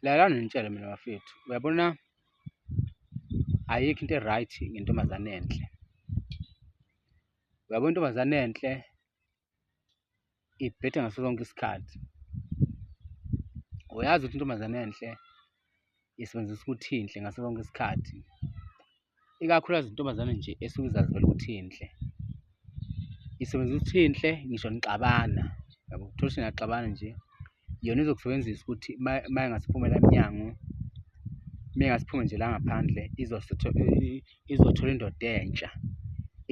lalana nitshele mina bafethu uyabona ayikho into e-right ngentombazane enhle uyabona intombazane enhle ibhethe ngaso sonke isikhathi uyazi ukuthi intombazane enhle isebenzisa ukuthi inhle ngaso sonke isikhathi ikakhulukazi intombazane nje esuke izazivela ukuthi inhle isebenzisa ukuthi inhle ngisho nixabana yabo uthola ukuthi niyaxabana nje yona izokusebenzisa ukuthi uma ingasiphumela emnyango uma ingasiphume nje la ngaphandle izothola indoda entsha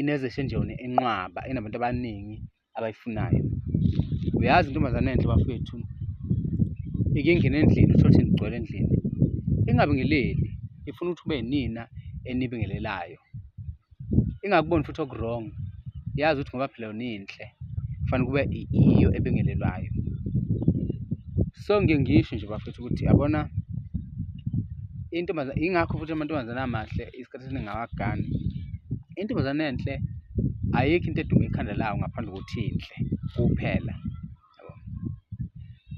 inezeshe nje yona enqwaba enabantu abaningi. abayifunayo uyazi intombazane enhle bafethu ike ingene endlini uthothe nigcwele endlini ingabingeleli ifuna ukuthi ube nina enibingelelayo ingakuboni futhi okuwrong yazi ukuthi ngoba phela yona inhle kufanele kube iyo ebingelelwayo so ngiye ngisho nje bafethu ukuthi yabona intombazane ingakho futhi amantombazane amahle isikhathi esiningi awagani intombazane enhle ayikho into eduma ikhanda lawo ngaphandle kokuthi inhle kuphela yabo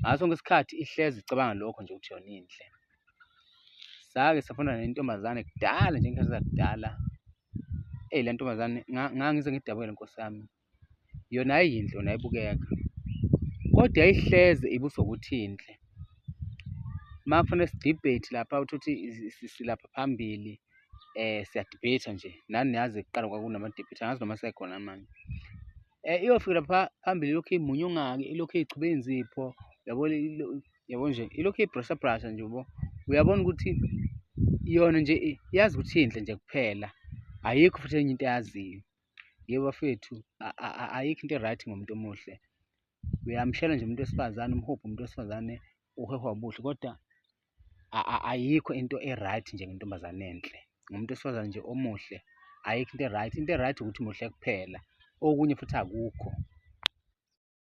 ngaso sonke isikhathi ihlezi icabanga lokho nje ukuthi yona inhle sake safunda nentombazane kudala nje ngikhathi zakudala eyi le ntombazane ngangize ngidabukele nkosi yami yona ayiyinhle yona ayibukeka kodwa yayihleze ibusokuthinhle uma kufanele sidebate lapha uthi uthi silapha phambili eh siyadebate nje nani niyazi kuqala kwakunama-debate angazi noma sekhona manje eh iyofika lapha phambili ilokhu imunye ungaki ilokhu igcube inzipho yabo yabo nje ilokhu ibrusha brusha nje ubo uyabona ukuthi yona nje yazi ukuthi inhle nje kuphela ayikho futhi enye into eyaziyo Yebo bafethu ayikho into e-right ngomuntu omuhle. Uyamshela nje umuntu wesifazane, umhubhe umuntu wesifazane, uhehwa ubuhle kodwa ayikho into e-right nje ngentombazane enhle. Ngomuntu wesifazane nje omuhle, ayikho into e-right. Into e-right ukuthi muhle kuphela, okunye futhi akukho.